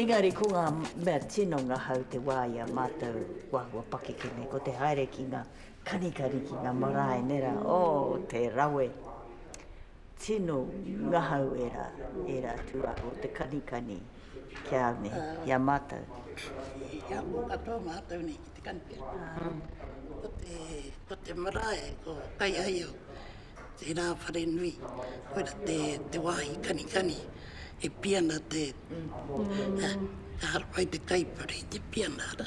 Engari ko ngā mea tino ngahau te wā i a mātou kua hua pakeke nei, ko te haere ki ngā kanikani, ki ngā marae, nē rā, oh, te rawe. Tino ngahau era, era tu a o te kanikani ki a me, ki a matou. E apo katoa matou nei ki te kanikani. Ko te, ko te marae, ko Kaiaio, tera whare nui, koira te, te wahi kanikani e piana te, ka harawai te kaipara i te piana, ara,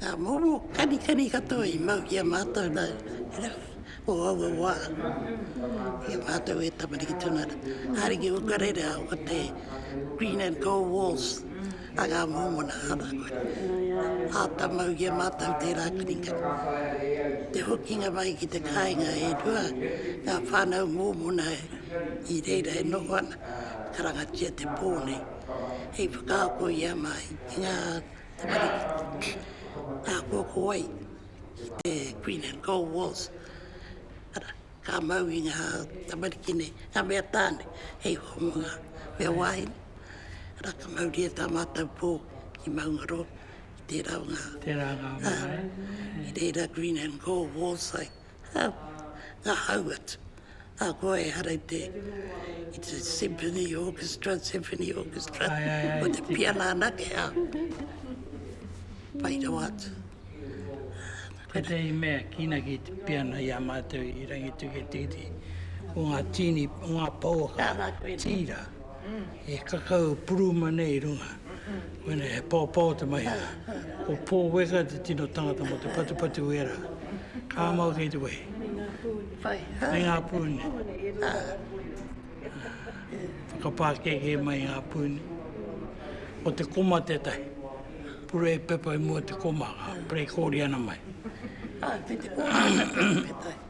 Ngā momo kanikani katoa i mau ki a mātou nā, o aua wā, i a mātou e tamariki tonu ana. Ariki o ka rere au ko te green and gold walls a ngā mōmona āna koa. Āta mau ki a mātou tērā kanikani. Te hokinga mai ki te kāinga e rua, ngā whānau mōmona i reira e noho ana, karangatia te pō nei. hei whakaako i a māi i ngā tamariki ako ako ai ki te Queen and Cold Wars ara ka mau i ngā tamariki nei ngā mea tāne hei hoa mo ngā mea wāhine ara ka mauria tā mātou pō ki Maungaroa ki tērā o ngā Te Rākau marae. Ki reira Queen and Cold Wars ai. Nga hau atu, ahakoa ehara i te symphony orchestra, symphony orchestra, ko te piana anake, pai rawa atu. Tētahi mea ki ina ki te piana i a mātou i Rangitiketiki, ko nga tīni, ko nga pouaka tīra. He kakau puruma nei i runga. Koinei he paopao te mahi a. Ko Paul Weka te tino tangata mo te patupatu wera. Ka mau kei te wehi. Me nga puni. Whakapakeke mai nga puni. Ko te koma tetahi. Pure pepa i mua te koma. Ka prekori ana mai.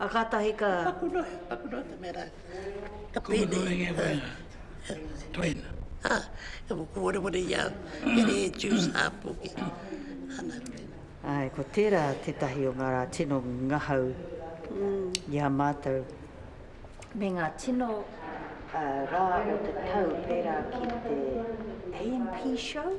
A katahi ka. Taku noa, taku noa te mera. Ka pene. Ko enge wena. Toina. Ha, e mo ko wale wale ia. Kere e juice a poke. Ana te. Ai, ko tera tetahi o nga ra tino ngahau i a matou. Me nga tino ra o te tau pera ki te AMP show.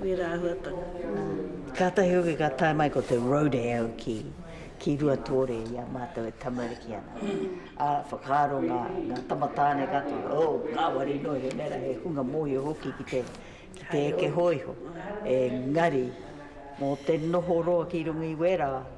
Wera ahuatanga. Kātahi hoki ka tae mai ko te rodeo ki, ki Ruatore i a mātou e tamariki ana. Ā, whakaaro ngā, ngā tama tāne katoa, oh, ngāwari noa iho nei rā, he hunga mōhio hoki ki te, ki te eke hōiho. Engari, mō te noho roa ki runga i wera,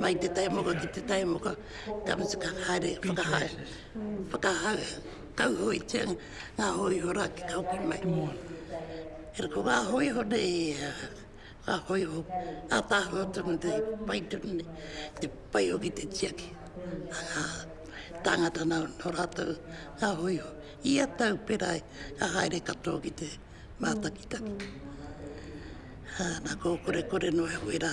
Mai te taimoka ki te taimoka ka matuka haere whakahae, whakahau, kauhoetia nga hoiho ra ki ka hoki mai. Era ko nga hoiho nei a nga hoiho atahua tonu te pai tonu nei, te pai hoki te tiaki a nga tangata no ratou nga hoiho ia tau pera ai ka haere katoa ki te matakitaki. Ana ko korekore no e hue ra.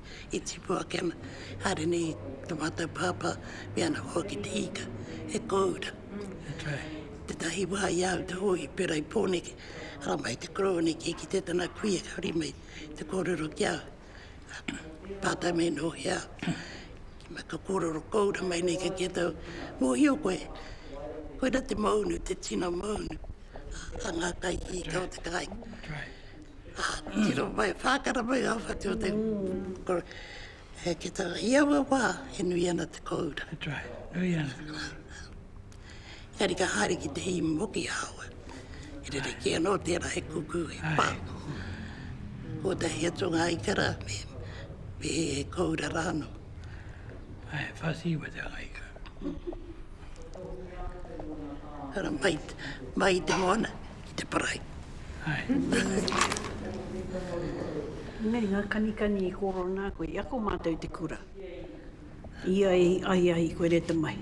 i tipu ake ana, haere nei i te mātou pāpā me ana hoa ki te ika, e kōura. Tētahi wā i au te hōu i pērā i Pōneke, ara mai te koroua nei kia kitea tana kuia ka huri mai te kōrero ki au. Pātai mai nō ki au, ki mai ka kōrero kōura mai nei ka kite au, mōhio koe, koira te maunu, te tino maunu a ngā kaihiika o te kāinga. Tiro mai, whākara mai ngā whatu o te kura. He ki tā, i aua wā e nui ana te kōura. That's right, nui ana. Engari ka haere ki te hī moki ahawa, e rere kē anō tērā he kuku, he pā. Kotahi atu ngā ikara, me, me he kōura rā anō. Ai, whasi wa te ngā ikara. Hara mai, mai te moana. i te parae. Nei ngā kanikani i kōrero nā koe, i ako mātou i te kura. I a i ahiahi koe re te mahi,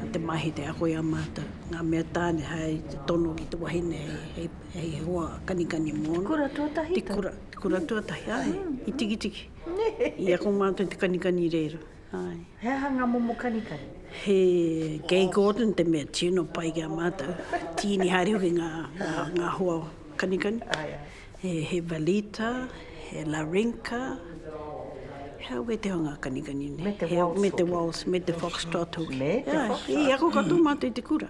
i te mahi te ako i a mātou, ngā mea tāne hai te tono ki te wahine hei, hei he hoa kanikani mōna. Te kura tuatahi tau? Te kura, te kura tuatahi, āe, i Tikitiki. I ako mātou i te kanikani i reira. Ae. He aha nga momo kanikani? He Gay Gordon te mea tino pai ki a matou. Tiini haere hoki nga nga hoa kanikani. Ae ae. He Velita, he Larinka, he au kei te hoa nga kanikani nei? Me te Waltz hoki. Me te Waltz, me te Foxtrot hoki. Me te Foxtrot. Ae. I ako katoa matou i te kura.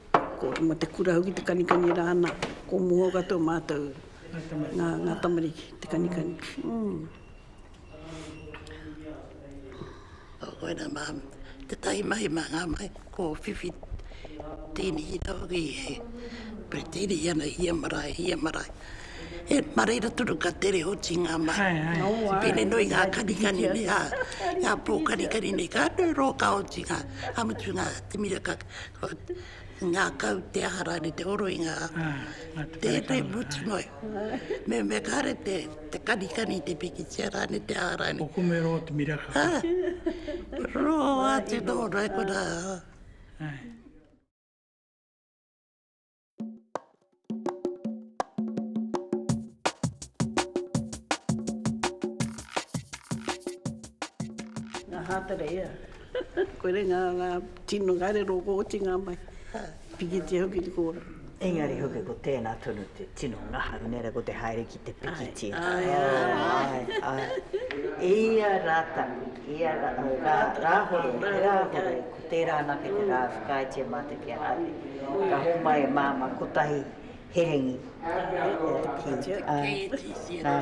Ko Rama te kura hoki te kanikani rā ana, ko Moho katoa mātou ngā tamariki te kanikani. Ko koina mā, tētahi mahi mā ngā mahi ko whiwhi tīni i raro ki he pretiri ana i ia marae, i ia marae. He mā reira tonu ka tere oti ngā mahi. Pēnei nō i ngā kanikani nei, ngā pō kanikani nei, ka rūrō ka oti ngā, ka mutu ngā te mira ka. Ngakau te aha rare te oro i nga tete mutu mai. Me me kare te te kani kani te pikitia rane te aha rane. Ko kume roa te miraka. Roa te dora kona. Ai. Ngā hātara ea. Koe re ngā tino ngairero ko oti ngā mai. Pikitia hoki te kōrero. Engari hoki ko tēnā tonu te tino ngaha. Inera ko te haere te pikiti. Ai, ai, ai. Ia rā tapu, ia rā, rā, rāhore, rāhore, ko tērā anake te rā whakaaetia mā te kia haere. Ka hōmai e māma kotahi herengi. Ki, ai, nā,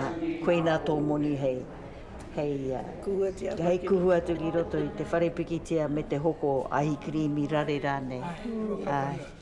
koina tō moni hei, hei, hei kuhu atu ki roto i te whare pikitia me te hoko ahi kirīmi rare rānei. Ai.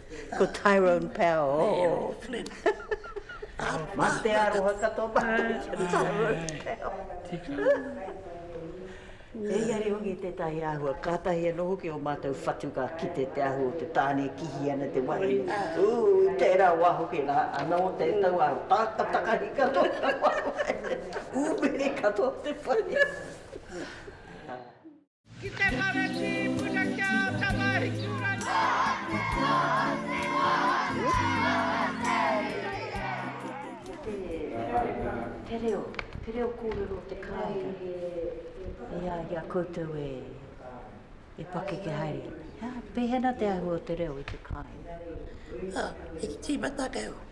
Ko Tyrone Power. Oh, Flynn. Mā te aroha katoa mā. Tyrone Power. Tika. He iare hoki tētahi āhua, kātahi anō hoki o mātou whatu ka kite te āhua o te tāne e kihi ana te wahine. Ū, i tērā wā hoki rā, anō tētau āhua, tāka takahi katoa te wahine. Ū, mere katoa te wahine. Ki te Karaiti i puta ki a Tamahiturangi. Te reo, te reo kōrero o te Karaiti i a i a koutou e pakeke haere ana. Pehena te āhua o te reo i te kāinga? He tīmatanga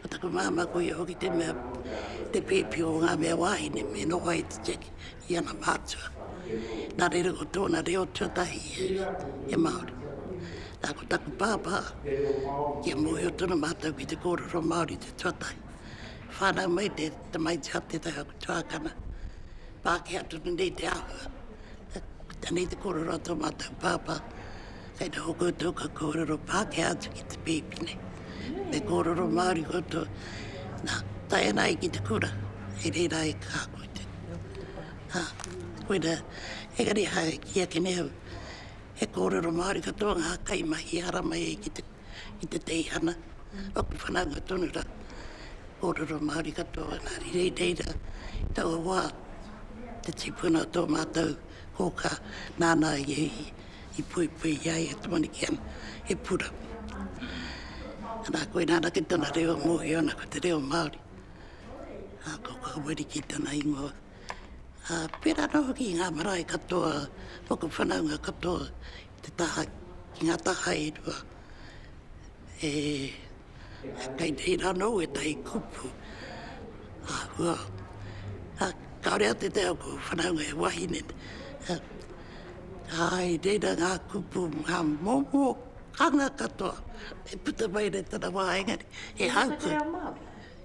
Ko taku māmā ko ia hoki te mea, te pēpi o ngā mea wāhine me noho ai te cheque i ana mātua. Nā reira ko tōna reo tuatahi e, he Māori. Nā, ko taku pāpā, kia mōhio tonu mātou ki te kōrero Māori te tuatahi. Whānau mai te tamaiti a tētahi o aku tuākana, Pākehā tonu nei te āhua. Koinei te kōrero a tō mātou pāpā. Kei noho koutou ka kōrero Pākehā atu ki te pēpi nei. Me kōrero Māori koutou. Nā, tae ana ai ki te kura, e reira e kā koe te. Ha, koina, engari hae ki ake nei au, he kōrero Māori katoa ngā kaimahi haramai ai ki te, ki te teihana. Aku whananga tonu rā, kōrero Māori katoa, nā, rei reira, taua wā, te tipuna tō mātou kōkā, nāna i, I puepuea i a ia te Manikiana, he pura. Ana, koina ana ki tana reo e mohio ana ko te reo Māori. A, ko Kaweri ki tana ingoa. A, pera no hoki i nga marae katoa, mo ko whanaunga katoa, te taha, ki nga taha e rua, e, Kei tēina anō ētahi kupu āhua. Kāore a te te ako whanaunga he wahine. Āe, reira ngā kupu, ngā momo hanga katoa e puta mai nei tana wā engari e haupu. He reo Māori?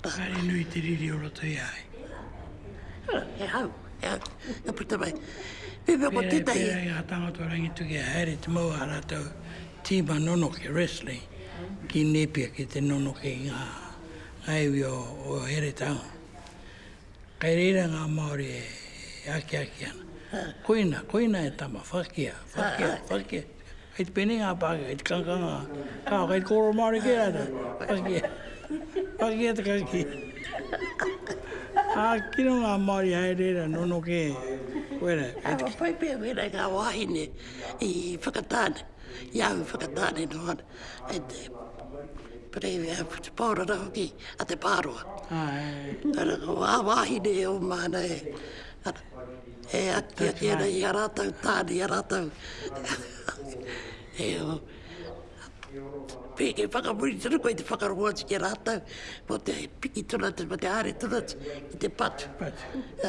Pakari nui te riri o roto i a ai. He hau, he hau, ka puta mai. Pēwhea ko tētahi. Pērā i ngā tāngata o Rangituki e haere te mau a rātou tīma nonoke, wrestling, ki Nēpia ki te nonoke i ngā iwi o Heretaunga. Kei reira ngā Māori e akiaki ana. Koina, koina e tama, whakia, whakia, whakia. Kei te pēnei ngā Pākehā, kei te kangakanga, kāo, kei te kōrero Māori kē rātou, whakia, whakia te kakī. Ā, kino ngā Māori haere reira, nono kē, koirā. Kua pai pea wēnei ngā wāhine i whakatāne, i ahu whakatāne noa. kei te Pirēmia Pōrara hoki a Te Pāroa. Ara, ko ā wāhine e oma ana e, e aki ake ana i a rātou tāne, i a rātou. e o, pēke whakamuri tonu koe te whakarongo atu ki a rātou, ko te piki tonu atu, ko te haere tonu atu ki te patu. Patu.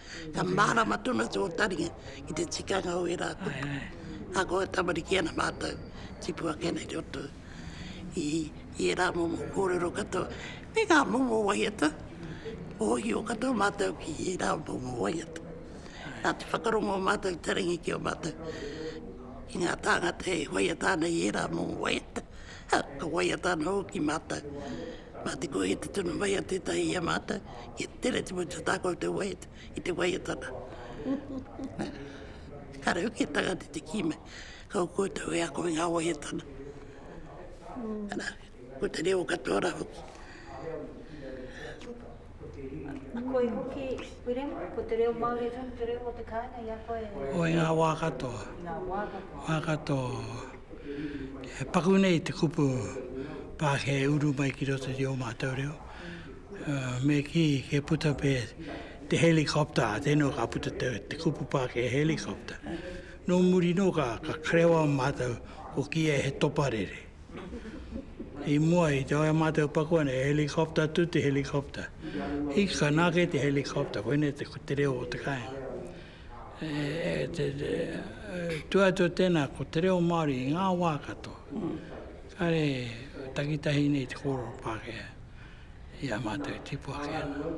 Ka mārama tonu atu ō taringa ki te tikanga o ērā kupu. Ahakoa e tamariki ana mātou, tipu ake ana i roto i ērā momo kōrero katoa me ngā momo waiata, mōhio katoa mātou ki ērā momo waiata. Nā te whakarongo o mātou taringa ki ō mātou, ki ngā tāngata e waiata ana i ērā momo waiata, Ha, ka waiata ana hoki mātou, mā te kōhia te tunu mai a tētahi i a mātou, kia tere te motu tā koutou waiata i te waiatanga. Nā, kāre hoki e tangata i te kī mai, ka o koutou e ako i ngā waiatanga. Anā, ko te reo katoa rā hoki. Koi hoki, William, ko te reo Māori rung te reo o te kāinga i a koe e? O, i ngā wā katoa. I ngā wā katoa. Wā katoa. E paku nei te kupu Pākehā e uru mai ki roto i ō mātou reo. Me kī, kei puta pea te helicopter, ā, tēnā ka puta te, te kupu Pākehā helicopter. Nō muri nō ka, ka karewa mātou, ko kīia he toparere. I mua i te oi a mātou pakua nei, he helicopter tu te helicopter. I ka nā kei te helicopter, koinei te, te reo o te kāinga. E, e, te, te, e, tu atu tēnā ko te reo Māori i ngā wā katoa. Mm. Kare takitahi nei te kōrero Pākehā i a mātou tipua ki ana.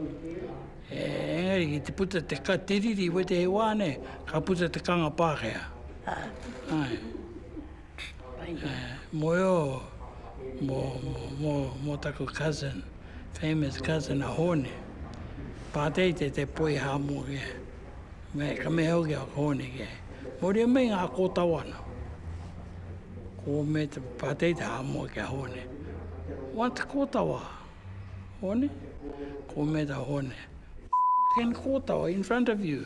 E, engari ki te puta te ka te riri, wete he wā nei, ka puta te kanga Pākehā. Ah. Ai. Moe o mo taku cousin, famous cousin a Hone. Patei te te poi ha mo ke. Me ka me hau ke Hone ke. Moria me nga ko tau ano. Ko me te patei te ha mo ke Hone. What ko tau a Hone? Ko me ta Hone. Ken ko tau in front of you.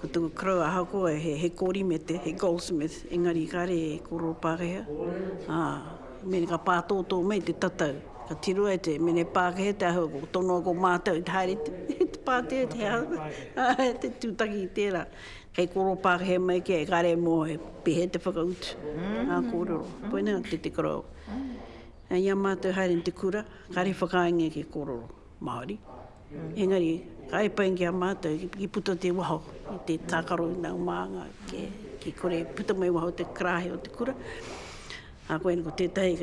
Ko taku koroua ahakoa he korimete, he goldsmith, engari kare e kororo Pakehea, a, me ka pātōtō mai te tatau, ka tiroa e te mene Pākehea te ahua ko tonoa ko mātou i te haere i te pātea i te ahua, ā, te tūtaki i tērā. Kei kororo Pākehea mai kē, kare mō he pēhea te whakautu ngā kōrero. Koinei a Te Te Koroua. I a mātou haere i te kura, kare whakaaengia ki kororo Māori, Engari, ka epai ki a mātou, i puta te waho i te tākaro i nāu mānga, kia kore e puta mai waho te karāhe o te kura. Ā, koina ko tētahi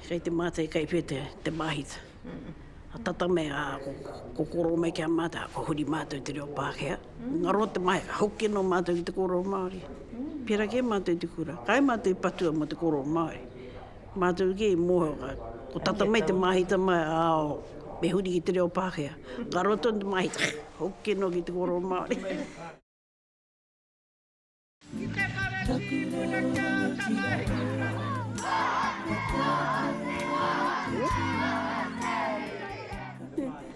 kei te mātai kai whē te māhita. Ka tata mai, ā, ko kōkōro mai ki a mātou, ā, kua huri mātou i te reo Pākehā. Ngaro te mahere, ka hoki anō mātou ki te kōrero Māori. Pērā kē mātou i te kura, kai mātou i patua mō te kōrero Māori. Mātou kē i mōhio, ko tata mai te māhita mai, ao, me huri ki te reo Pākehā. Ka roa tonu te māhita, hoki noa ki te kōrero Māori. Ki te whare tīpuna kia takahi mai.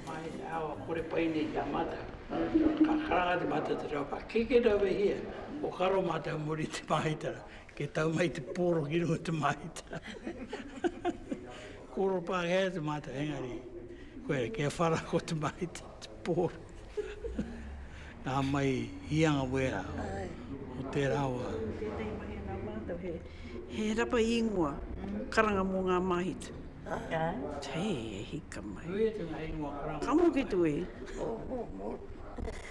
Mai te ao a kore pai nei ki a mātou. Ka karanga te mātou te reo Pākehā. Kikino wehi e, ko karo mātou muri te māhita. Ke tau mai te poro ki runga te mahita. Koro pākehā te mahita, engari, koe re, kia whara ko te mahita, te poro. Nā mai hianga wera o tērā wā. Tēnei mahi ana mātou he, he rapa ingoa, karanga mō ngā mahita. Hei, e hika mai. Nui atu ngā ingoa karanga. Ka moke tue.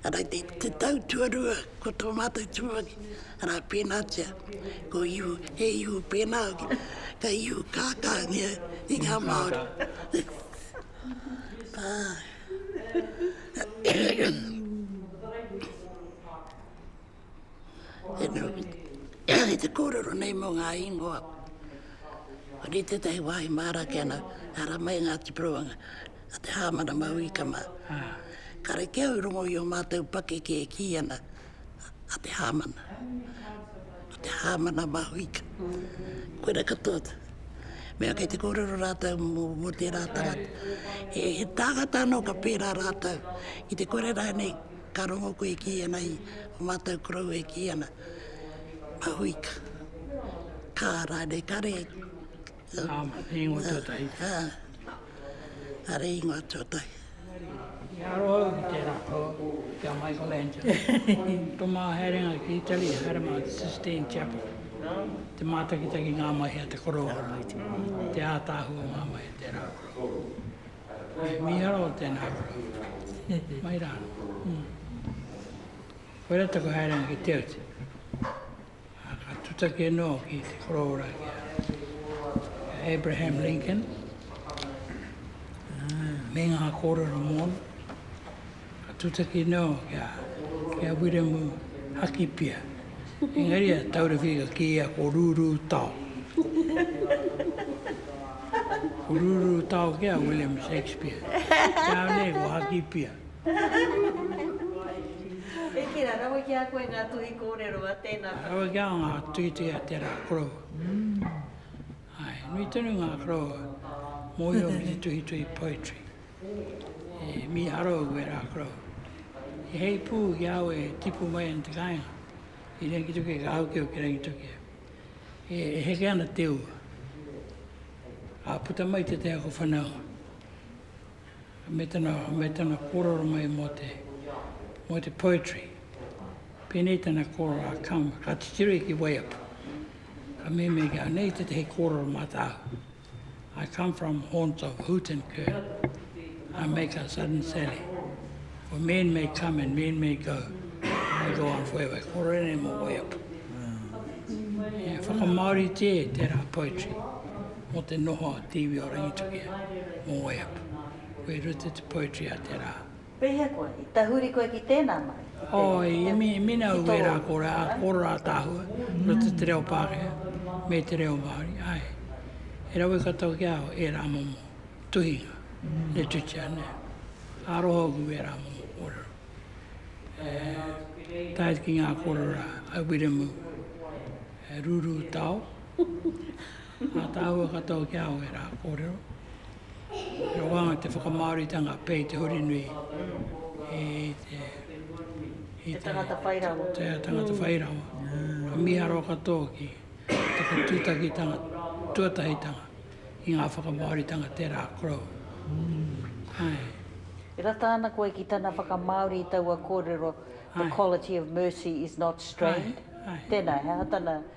Arā, ki te tau tuarua, ko tō mātou tumuaki, arā, pēnātia, ko ihu, he ihu pēnā hoki, ka ihu kākāngia i ngā Māori. Ā. E noho ki te kōrero nei mō ngā ingoa. Ki tētahi wāhi māra ake ana, ara mai ngā tipurawanga a te Hāmana Maui ka mā. Kare kē au i rongo i ō mātou pakeke e kī ana, a te Hāmana, a te Hāmana Maui ka. Koira katoa te mea kei te kōrero rātou mō, mō tērā tangata. He, he tāngata anō ka pērā rātou ki te kore rānei, Ka rongo koe e kī ana i o mātou koroua e kī ana, Mahuika, kā rānei kare. Tāma, he ingoa tuatahi. Ā, are ingoa tuatahi. Engari, i aro au ki tērā poa, ki a Michelangelo. Tō māua haerenga ki Italy, i haere māua ki Sistine Chapel, te mātakitaki ngā mahi a te koroua rā, te ātaahua o ngā mahi o tērā koroua. He mīharo o tēnā koutou. Mai rā. Koirā taku haerenga ki te utu. Ka tutaki anō ki te korōra ki a Abraham Lincoln. Me ngā kōrero mōna. Ka tūtaki anō ki a Wiremu Hakipia, engari a Tauraki ka kīia ko Rūrūtao. Ko Rūrūtao kē a William Shakespeare, nāu nei ko Hakipia. E kīra, rawe ki a koe ngā tuhi kōrero a tēnā whare. Rawe ki au ngā tuhituhi a tērā korou. Nui tonu ngā korou mō io me te tuhituhi poetry. E mīharo au e Rākaro. He hei pū ki a au e tipu mai ana te kāinga. I Rangitokia, ka hau keu ki Rangitokia. E, e heke ana te ua. Ka puta mai te te ako whanau. Me tana, me tana kōrero mai mō te, mō te poetry. Pēnei tana kōrero a Kama. Ka titiro i ki Waiapu. Ka mēmē ki a nei te te hei kōrero mā tāu. I come from haunts of hoot and cur. I make a sudden sally. For men may come and men may go. I go on forever. Ko rene mo wai atu. E whakamaori te tera poetry. Mo te noho a Tiwi o Rangitukia. Mo wai atu. Ko i rute te poetry a tera. Pehea koe? I tahuri koe ki tēnā mahi, ki te, ki te, Āe, i mina au ērā ko ō rā ātaahua roto i te reo Pākehā me te reo Māori, āe. He rawe katoa ki a au ērā momo tuhinga, literature, nē. Aroha au ki ērā momo kōrero. E, tae atu ki ngā kōrero a Wiremu Rūrūtao, ātaahua katoa ki a au ērā kōrero. He wānga te whakamāoritanga pei te huri nui i te... Te tangata whai rawa. Te tangata whai rawa. Ka mīharo katoa ki te whatūtakitanga tuatahitanga i ngā whakamāoritanga tērā korou. Ae. E rata ana koe ki tana whakamāori i taua kōrero, The quality of mercy is not strained. Ae, ae. Tēnā, he aha tana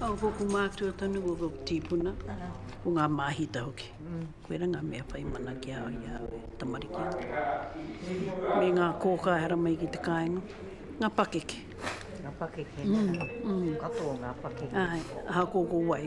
Au ko ko mātua tonu ko ko tīpuna, ko ngā māhita hoki. Koira ngā mea whai mana ki a au i a au e tamariki ana. Me ngā kōkā e hara mai ki te kāinga, ngā pakeke. Ngā pakeke, katoa ngā pakeke. Āe, ahakoa ko wai.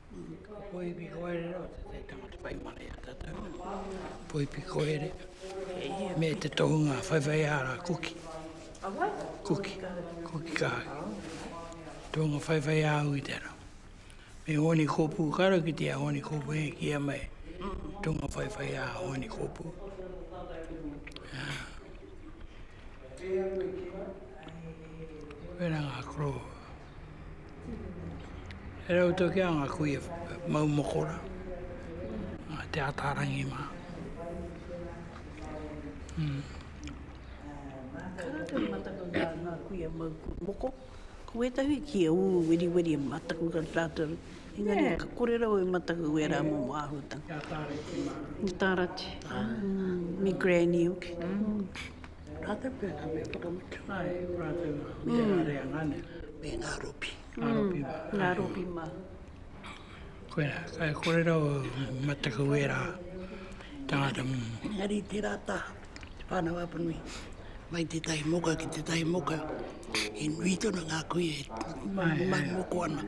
Poipikoere o te tangata whai mana i a tātou. Poipikoere me te tohunga whaiwhai āra kuki. Kuki, kuki kāki. Tohunga whaiwhai āu i te ara. Me honi kōpū karo ki te a honi kōpū e kia mai. Tohunga whaiwhai ā honi kōpū. Wērā ngā koro. He rau tau ki a nga kui e mau mokora, a te atarangi ma. Ka rau tau i mataku ki a nga kui e mau moko, ko wetahi ki a u weriweri e mataku ki a tatou, engari ka kore rau e mataku ki era momo ahutanga. Nga tarati ma, me granny hoki. Ka te pēnā me whakamutu. Ai, ko rātou me te rā reanga nei. Me ngā ropi. Ngā ropi mā. Ngā ropi mā. Koirā, kai kōrero mataku ērā tāngata. Engari tērā taha, te Pānau Apanui, mai tētahi moka ki tētahi moka, he nui tonu ngā kui e mokoana.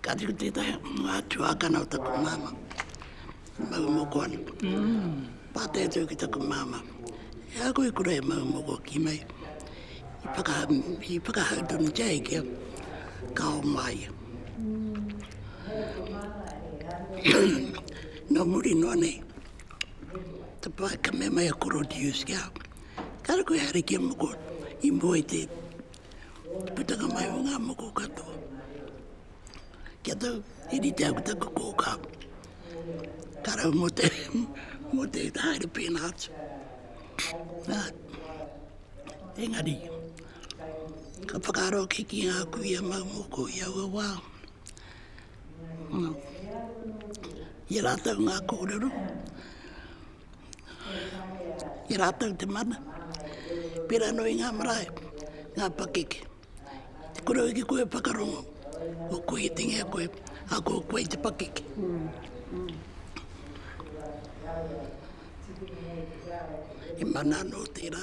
Kāti ko tētahi o ngā tuākana o taku māmā, mau moko ana. Pātai atu au ki taku māmā, e a koe kura e mau moko ki mai? I whakahau, i whakahau tonutia e ki au, ka ao mā ia. Nō muri noa nei, te pae ka mea mai a koro Dius ki a au, kāre koe haere ki a moko i mua i te Putanga mai o ngā moko katoa. Kia tau, i rite aku taku kōkā. Ka rau mō te, mō te haere pēnā atu. Nā, engari, ka whakaaro ki ki ngā kuia mau moko i aua wā. Ia rātou ngā kōrero. ki rātou te mana, pērā anō i ngā marae, ngā pakeke. Te kore au ki koe e whakarongo, ko koe i te ngia koe, ā, ko koe i te pakeke. He mana anō tērā.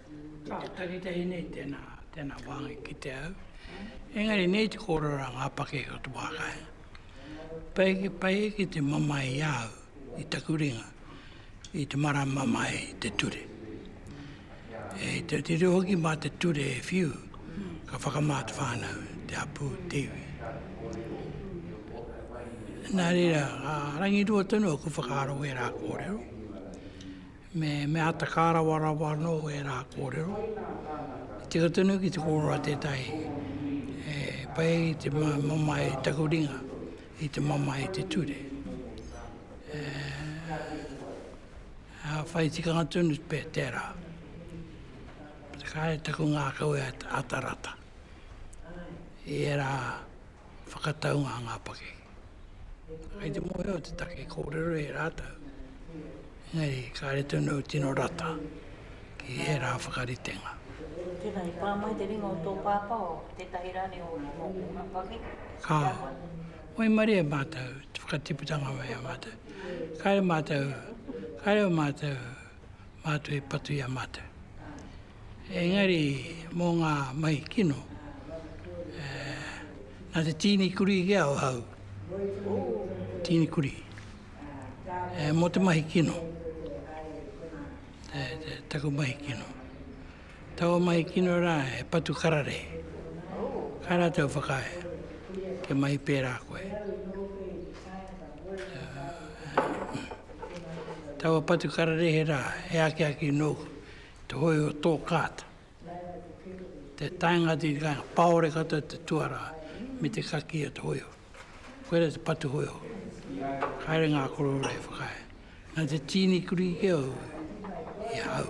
Ka takitahi nei tēnā, tēnā wāhi ki te au. Engari nei te kōrero a ngā pake o te wā kai. Pai ki pai ki te mamae i au, i taku ringa, i te marama mai te ture. E te te reo hoki mā te ture e whiu, ka whakamā te whānau, te hapū, te iwi. Nā reira, a rangi rua tonu aku whakaaro e rā kōrero. Me mea ta ka rawarawa no era korero. I tika tonu ki te korero a tetahi e pai i te mamae i taku ringa, i te mamae i te ture. A whai tikanga tonu pe tera. Te kai taku ngakau e ata rata. I era whakataunga a ngā pakeke. Kei te mōhio te take kōrero e rātou, engari kāre tonu tino rata ki ērā whakaritenga. Tēnā, i pā mai te ringa o tō pāpā o tētahi rānei o ngā pakeke? Ka. Waimarie mātou, te whakatiputanga mai a mātou. Kāre mātou, kāre o mātou, mātou i patu i a mātou. Engari, mō ngā mahi kino, nā te tīni kurī kē ahau, tīni kurī, mō te mahi kino, taku mahi kino. Taua mahi kino rā he patu kararehe, ka rātou whakaae kia mahi pērā koe. Taua patu kararehe rā he akiaki nōku te hoi o tō kāta, te taenga te ka paore kata te tuara me te kaki o te hoi o. Koera te patu hoi o. Haere ngā korora e whakae. Nā te tīni kuri ke au, i a hau.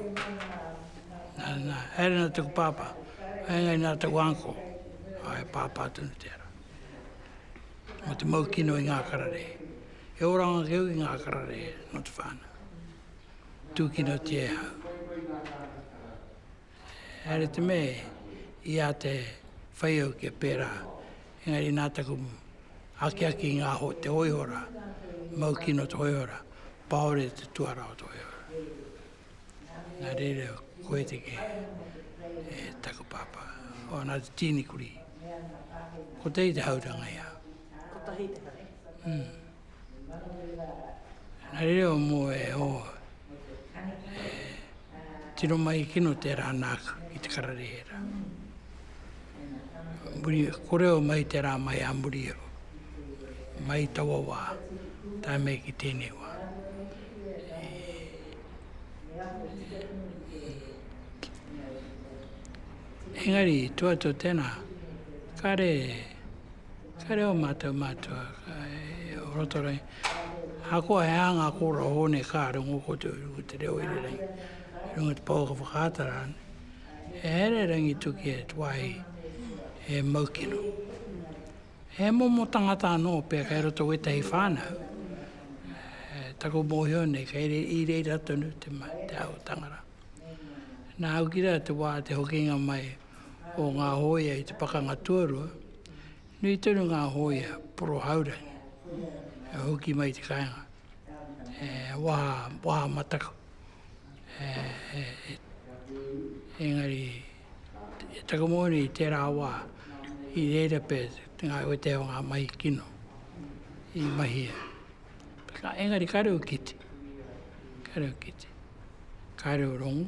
Nā, nā, haere nā taku pāpā, haere ngai nā taku anko, hae pāpā tonu te ara. Mō te mau kino i ngā karare. E oranga ke au i ngā karare, not whāna. tūkinotia e hau. Haere te me, i a te whai au kia pērā, engari nā taku akiaki ngā ho, te hoihora, mau kino te hoihora, paore te tuara o te hoihora. Nā reira, koe te ke, e taku pāpā, o nā te tīni kuri. Ko te i te hauranga ia. Ko tahi te hauranga. Mm. He reo mō e ō, e tino mahi kino tērā nāku ki te kararehera. Muri, ko reo mai tērā mai a muri o, mai i taua wā, tae mai ki tēnei wā. Engari, tua atu tēnā, kāre, Ka reo mātou mātua e o roto rei. Ahakoa he aha ngā kōrero hou nei ka rongo koutou i runga i te reo irirangi, i runga i te pouaka whakaata rānei. He here rangituki e te wāhi he mau kino. He momo tangata anō pea kei roto i wētahi whānau, taku mōhio nei kei re, i reira tonu te, te aotanga rā. Nā au ki rā te wā te hokinga mai, o ngā hōia i te Pakanga Tuarua, nui tonu ngā hōia poro haurangi e hoki mai i te kāinga, e waha, waha mataku. E, e, e, engari, e taku mōni i tērā wā, i reira pē ngā wetēa o ngā mahi kino i mahia. Ka, engari ka reo kite, ka reo kite, ka reo rongu.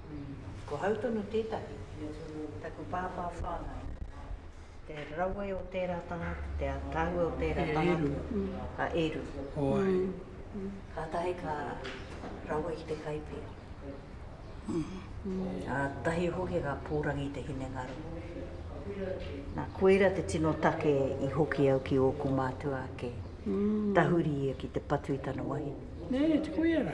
Ko hau tonu tētahi, taku pāpā whāngai, te rawe o tērā tangata, te ataahua o tērā tangata, a Eru. Kātahi ka rawe ki te Kaipia. Kātahi hoki ka pōrangi i te hinengaro. Nā, koira te tino take i hoki au ki ōku mātua ake, tahuri ia ki te patu i tana wahine. Nē, te koira?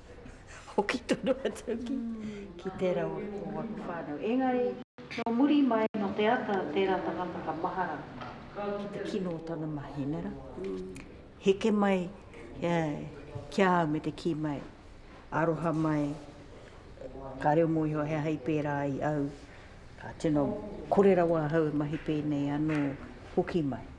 hoki tonu atu ki, ki tērā o tō aku whānau. Engari, nō muri mai, nō te ata a tērā tangata ka mahara ki te kino o tana mahi, nē rā? Heke mai ki a au me te kī mai, aroha mai, ka reo mō iho he aha i pērā ai au, ka tino kore rawa ahau e mahi pēnei anō hoki mai.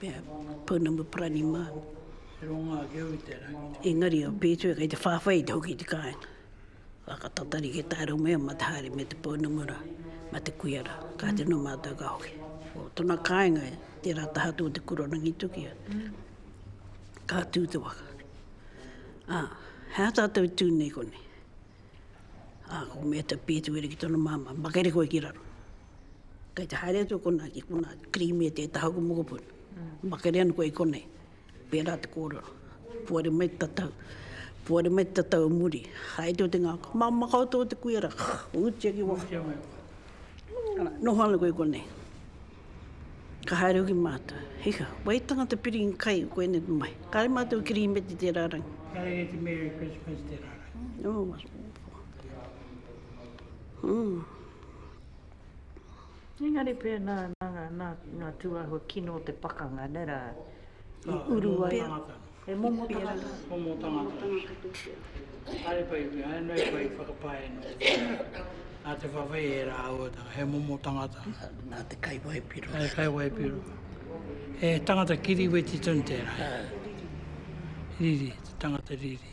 Pea, pounamu parani mā. He rongo ake au i te rangi. Engari o Pētuia kei te whāwhai i te hoki i te kāinga. Ka ka tatari ki tāu mea mā te haere me te pounamu rā, mā te kuia rā. Ka te no mātou ka hoki. Ko tona kāinga e tērā taha atu o te kura Rangitukia. Ka tū te waka. Ā, he aha tātou i tū nei konei? Ā, ko Mēta Pētuia ki tona māmā, makere koe ki raro. Kei te haere atu konā ki konā, cream e te taha o te mokopuna. Makere ana koe i konei. Pērā te kōrero. Puare mai te tatau. Puare mai te tatau o muri. Haere o te ngako. Māmā koutou te kuia rā. Utia ki waho. Ana, noho ana koe i konei. Ka haere hoki mātou. Hika, wai tangata piringi kai koinei te mahi. Kāre mātou cream e te tērā rangi. Kāre e te Merry Christmas tērā rangi. Nō. Nō. Engari pēnā nā ngā, nā ngā tūāhua kino o te pakanga, nē rā, i uru ai. He momo tangata. He momo tangata. Momo tangata. Haere pai pea, haere noa i koe i whakapae noa i tēnā. Nā te whawhai e rā auatanga, he momo tangata. Nā te kai waipiro. Nā te kai waipiro. He tangata kiri weti tonu tērā. Riri, te tangata riri.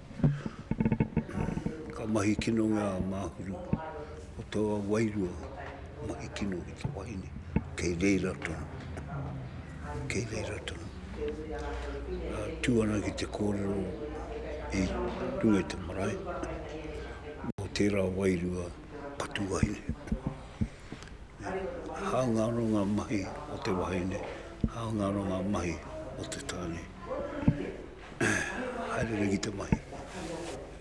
Ka mahi kino ngā māhuru o taua wairua, mahi kino ki te wahine, kei reira tonu, kei reira tonu. Tū ana ki te kōrero i runga i te marae, mō tērā wairua ka tū wahine. Hāunga anō ngā mahi o te wahine, hāunga anō ngā mahi o te tāne. haere nei ki te mahi.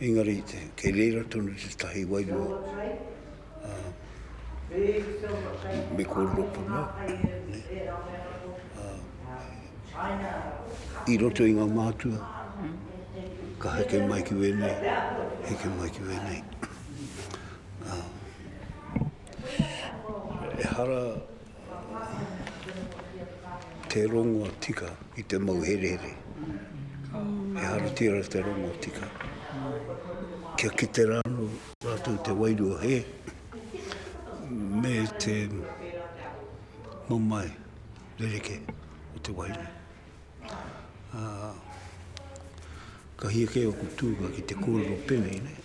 Engari, kei reira tonu te tahi wairua, me kōrero puna, i roto i ngā mātua, ka heke mai ki wēnei, heke mai ki wēnei. Ehara, Te rongoa tika i te mau herehere. Ehara tira te rongoa tika. Kia kite rānō rātou te wairua hē me te mamae rereke o te wahine. Ka hia kē oku tūnga ki te kōrero pēnei nei.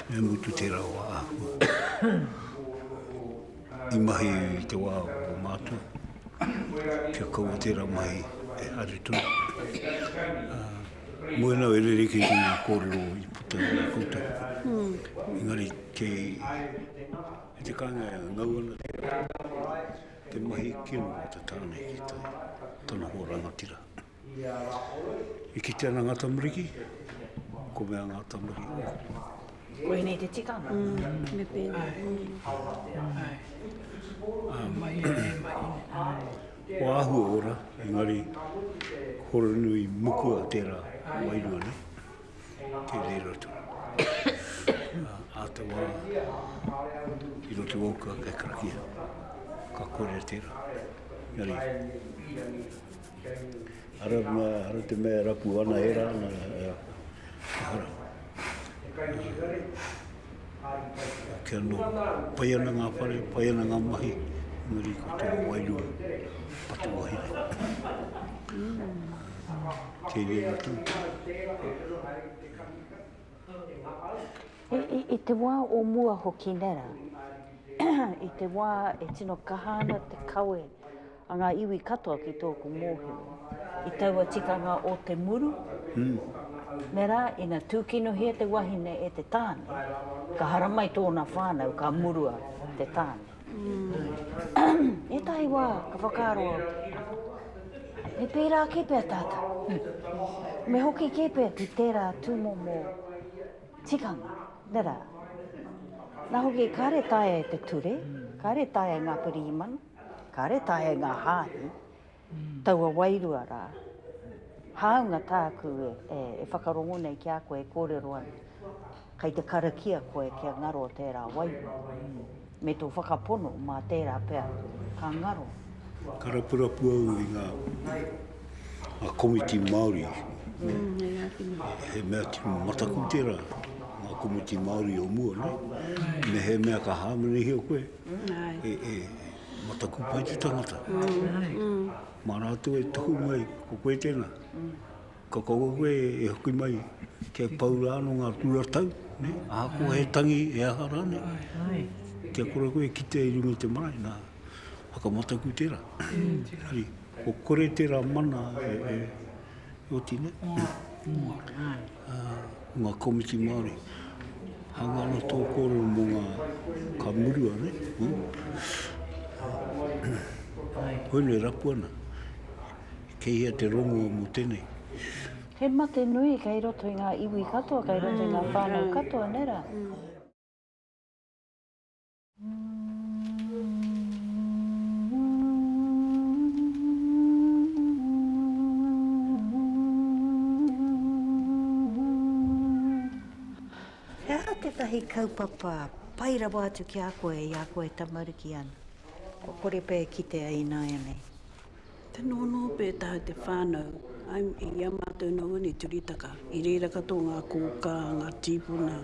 Me mutu tērā wā āhua. I mahi i te wā o mātou. Kia kaua tērā mahi e haere tonu. Moe nau e rere ki ngā kōrero i puta i a koutou. Engari kei te kāinga e ngau ana tērā. Te mahi kino o te tāne ki te tanohua rangatira. I kite ana nga tamariki, ko mea nga tamariki. Ko enei te tikanga. Me pena. Ko ahu e ora, engari horonui mukua tera wairua ne. Te reira tu. A te wa, i roti wauka kai karakia. Ka kore tera. Engari. Ara ma, ara te mea rapu ana, e ra ana, ara. Ke ano, pai ana nga whare, pai ana nga mahi, engari ko te wairua, patu wahine. Kei rei na tau. I te wa o mua hoki nera, i te wa e tino kaha ana te kawe, A ngā iwi katoa ki tōku mōhio, i taua tikanga o te muru, me rā, ina tūkinohia te wahine e te tāne, ka haramai tōna whānau, ka murua te tāne. Ētahi wā, ka whakaaro au, me pērā kē pea tātou, me hoki kē pea ki tērā tūmomo tikanga, me rā. Nā hoki, kāre taea e te ture, kāre taea e ngā pirihimana, Kāre taea ngā hāhi, taua wairua rā. Hāunga tāku e whakarongo nei ki a koe e kōrero ana, kei te karakia koe kia ngaro tērā wairua, me tō whakapono mā tērā pea ka ngaro. Ka rapurapu au i ngā komiti Māori, he mea tino mataku tērā, ngā komiti Māori o mua nei, mehemea ka hāmenahia koe, e mataku pai te tangata. Mā rātou e tuku mai, ko koe tēnā. Ka kaua koe e hoki mai kia pau rā no ngā kūratau, ne? Ahakoa he tangi, he aha rānei. Kia kore koe e kitea i runga i te marae, nā, whakamataku tērā. Ko kore tērā mana e, Ooti nei, nga komiti Maori, hanga ana to korero mo nga, ka murua nei, koina e rapu ana, kei hea te rongo mo tenei. He mate nui kei roto i nga iwi katoa, kei roto i nga whanau katoa, nera? He aha tētahi kaupapa pai rawa atu ki a koe i a koe tamariki ana? Kua kore pea e kitea ināianei? Tino ono pē taha te whānau I'm i a mātou nō ēnei turitaka i reira katoa ngā kōkā, ngā tīpuna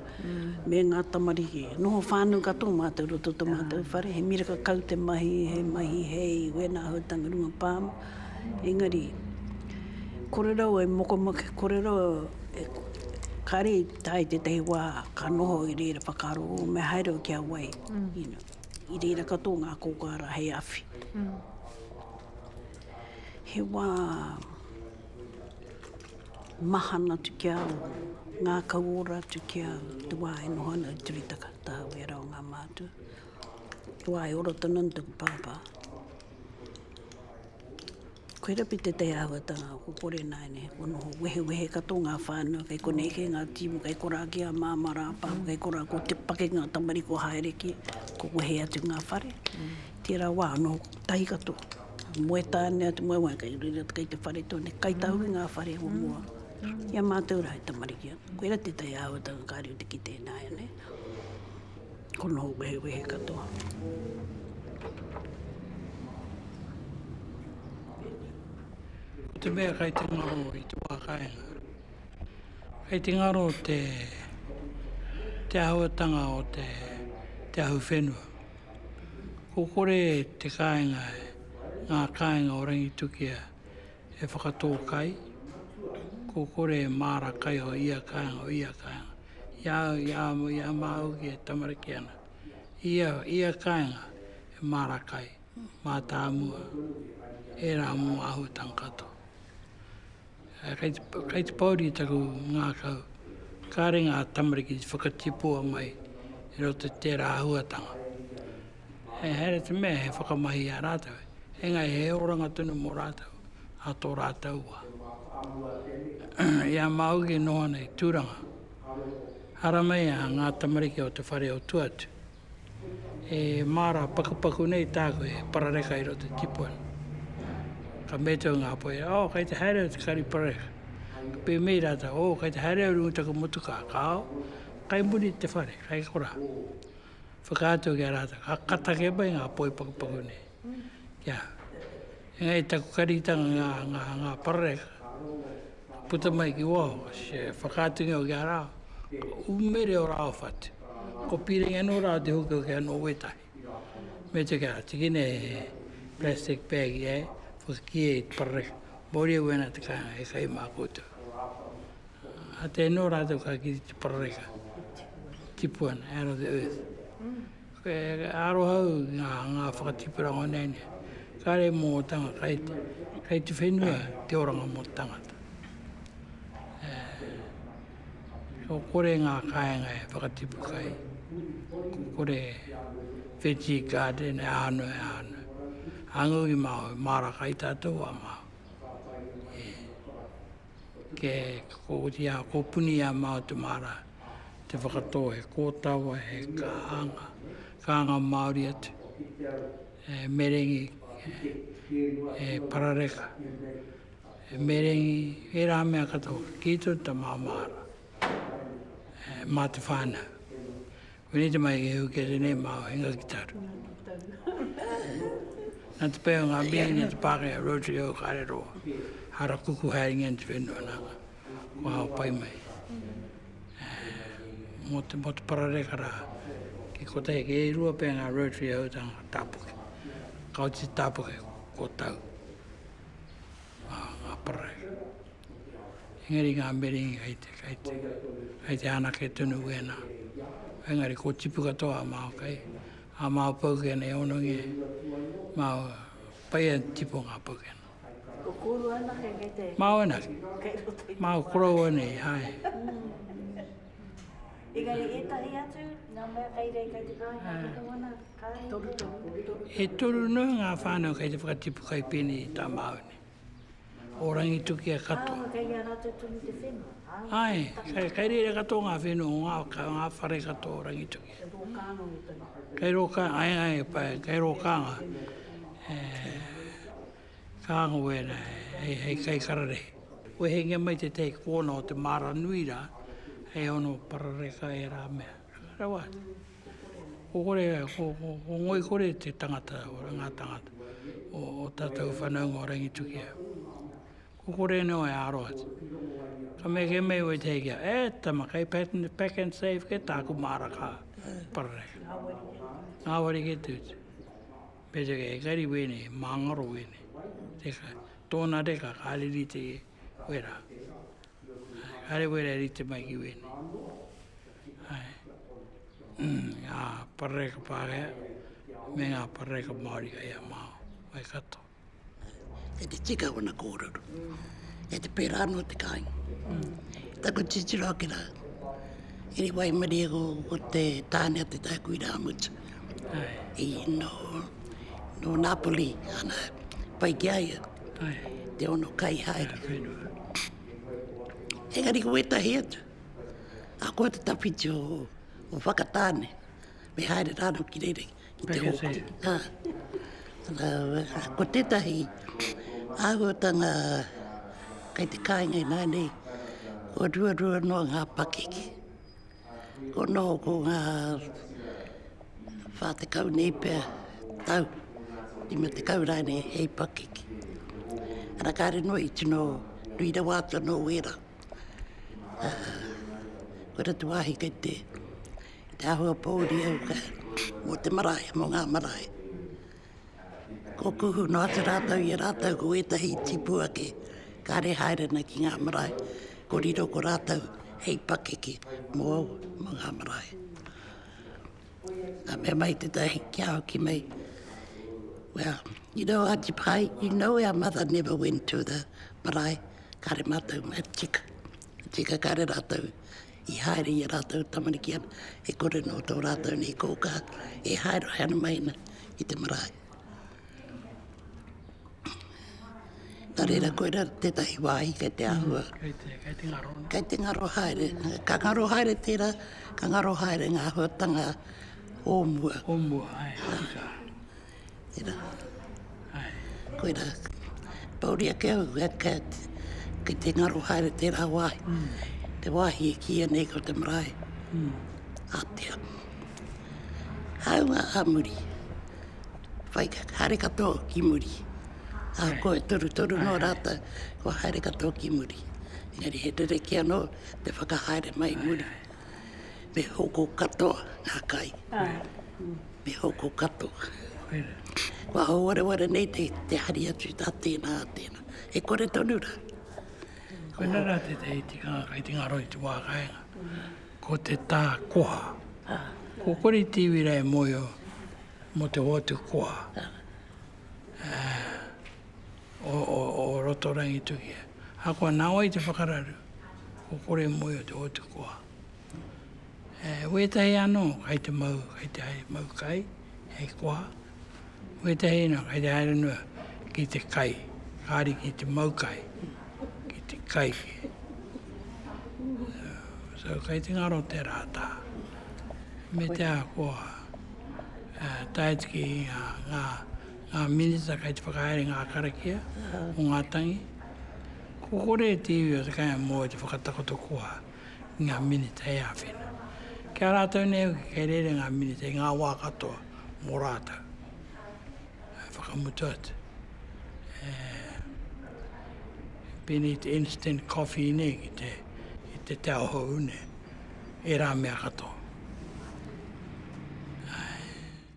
me ngā tamariki. Noho whānau katoa mātou roto tō mātou whare, he miraka kau te mahi, he mahi hei wēnā hautanga runga palm, engari kore rawa e mokomake, kore rawa e kāre i tae tētahi wā ka noho i reira whakaaro, o me haere au ki a wai, you know. I reira katoa ngā kōkā rā hei awhi. He wā mahana atu ki a au, ngākau ora atu ki a au, te wā e noho ana au i te reta katoa wē rā o ngā mātua. Te wā e ora tonu ana taku pāpā. Koe rapi te te āhuatanga o ko kore naine ko noho wehewehe ka to ngā whānau kei konei kei ngā timu kei kora ki a māmā rāpāho kei kora ko te pake ngā tamari ko haere ki ko wehe atu ngā whare tera wā no tahi kato moe tāne atu moe wai kei reira kei te whare tone kai tahu i ngā whare o mua i a mātou ra he tamariki atu koe ra te te āhuatanga kare o te kite nāianei. Ko nō wehewehe katoa. Te mea kai te ngaro i te wā kāinga. Kai te ngaro te, te āhuatanga o te, te ahu whenua. Ko kore te kāinga, ngā kāinga o Rangitukia, e whakatō kai, ko kore e māra kai o ia kāinga, o ia kāinga. I a au, i a au, i a māu ki e tamariki ana. Ia, ia kāinga e māra kai, mātāmua, ērā mō āhuatanga katoa. Kei te, kei te pōuri taku ngākau, kāre ngā tamariki i whakatipua mai i roto i tērā āhuatanga. He haere te mea he whakamahi i a rātou, engari he oranga tonu mō rātou a tō rātou wā. I a māu ki noho ana i Tūranga, haramea ngā tamariki o te whare o Tuatu. E māra pakupaku nei tāku he parareka i roto i tipuana. Ka mea tau ngā poe, o, oh, kei te haere au te kari parareka. Ka pēmei rātou, o, oh, kei te haere au rungu taku motukā, ka ao, kai muri te whare, kai korā. whakaatu ki a rātou, ka, ka take mai ngā poi pakupaku nei. Kia, engari taku karitanga ngā, ngā, ngā parareka, puta mai ki waho, se whakaatu ngio ki a rāo, umere o rāo whatu. Ko pīrenge anō rāo te hoki hoki anō wētahi. Me te kia, tiki nei he plastic bag i ai, whakakie i te parareka, mōria wēnā te kāinga e kai mā koutou. A te anō rātou ka kite te parareka, tipu ana, out of the earth. E aroha au ngā, ngā whakatipurango nei nei. Kāre mō tanga kai, kai te whenua te oranga mō tangata. E, ko kore ngā kāinga e whakatipu kai, ko kore veggie garden e āno e āno. Angu i māu, māra kai tātou a māu. E. ke kōria, kōpuni i a māua te māra, te whakatō he kōtawa, he kānga, kānga Māori atu, e merengi, e parareka, e merengi, ērā mea katoa, ki tō tamā māra, mā te whānau. Wini te mai ki hu ke te nei mao hinga ki taru. Nā te pēo ngā mii nā te pāke a Rotary o kāre roa. Hara kuku hai ngen te whenua nāka. Kua hao pai mai. Mō te, mō te parareka rā. Ki ko te heke e rua pē ngā Rotary hau tā ngā tāpuke. Kau te tāpuke kua tau. Ngā, ngā parareka. Engari ngā merengi kei te, kei te, kei te anake tonu wēnā. Engari ko tipu katoa a Māo kei, a Māo Paukena e honongi e, Māo pai e tipu ngā Paukena. Ko kōrua anake kei te... Māo anake. Kei roto i te... Māo korou anei, hai. Engari ētahi atu, ngā mea kei rei kei te kāinga, ah. kei te wana, kāinga. Toru, toru, toru. E toru noa ngā whānau kei te whakatipu kai pēnei i tā Māo nei. o Rangitukia katoa. Āe, kei a rātou tonu te whenua. Āe, kei reira katoa ngā whenua o ngā, ngā whare katoa o Rangitukia. Kei rō kānga me tonu. Kei rō kānga, āe, āe, pai, kei rō kānga. E, kānga wēnā, hei, hei kai kararehe. Wehengia mai tētahi kōna o te māra nui rā, hei ono parareka ērā mea. Rawa. Ko kore, ko, ko, ko Ngoikore te tangata, ngā tangata o o tātou whanaunga o Rangitukia. Ko kore anō e aro atu. Ka mea ke Mei wai te hei kia, e tama, kei pack and, pack and save kē tāku māra ka parareka. Ngāwari kē te utu. Me te kē, engari wēnei, māngaro wēnei. Tēka, tōna reka ka riri te wera. Are wera e rite mai ki wēnei. Hai. Ngā parareka Pākehā me ngā parareka Māori kai a Māo, kai kato. E te tika wana kōrero. E te pērā anō te kāinga. Taku titiro ake rā. Iri wai meri e ko te tāne a te tākui rā mutu. Hai. I no, no Napoli, ana, pai ki aia. Te ono kai haere. Engari ko wetahi atu, a koa te tawhiti o, o Whakatane, me haere rāno ki reira ki te hoku. Ha. Rau, ko tetahi, āhuatanga kai te kāinga i nānei, ko rua rua noa ngā pakeke. Ko noho ko ngā whā tekau nei pea tau, rima tekau rānei hei pakeke. Ana kāre noa i tino nui rawa atu anō wērā. Koe rā te wāhi kei te, te āhua pōuri au ka, mō te marae, mō ngā marae. Kua kuhu noa atu rātou i a rātou ko ētahi tipu ake, kāre e haere ana ki ngā marae, ko riro ko rātou hei pakeke mō au, mō ngā marae. Ka mea mai tētahi ki a au ki mei, well, you know, Aunty Pai, you know our mother never went to the marae, kāre mātou, tika, tika kāre rātou i haere i a rātou tamariki ana, e kore nō tō rātou nei kōkā e haerehae ana mai ana i te marae. Nā reira, koe rā tētahi wāhi kei te āhua. Mm, kei, te, kei te ngaro. Kei te ngaro haere. Ka ngaro haere tērā, ka ngaro haere ngā huatanga o mua. O mua, ai, tika. Tēnā. Koina, pōuri ake au, kei te ngaro haere tērā wāhi, te wāhi e kīia nei ko te marae, ātea. Hāunga ā muri, whai haere katoa ki muri, ā koe torutoru nō rātou, kua haere katoa ki muri. Engari he rerekē anō te whakahaere mai i muri. Me hoko katoa ngā kai. Me hoko katoa. Kua hauwareware nei te, te hari atu tā tēnā, tēnā. E kore tonu rā. Koina rā te te iti ngā kai, te ngaro i te wā kainga. Ko te tā koha. Ko kore i te iwi rā e moe o, mo te hoatu koha. O, o, o roto rangi tuki. Akoa nā wai te whakararu. ko kore moe o te hotukoa. E wētahi anō kai te mau, kai te hai, mau kai, hei koha. Wētahi anō kai te haere noa ki te kai, kāri ki te mau kai, ki te kai kē. So, kai te ngaro te rātā. Me te ahakoa, tae atu ki ngā, ngā, ngā Minita kei te whakahaere ngā karakia o ngā tangi. Ko kore te iwi o Te Kāinga Moe te whakatakoto koha i ngā Minita hei āwhina. Ki a rātou nei hoki kei reira ngā Minita i ngā wā katoa mō rātou e whakamutu atu. E pēnei te instant coffee nei ki te, ki te te ahohou nei, e rā mea katoa.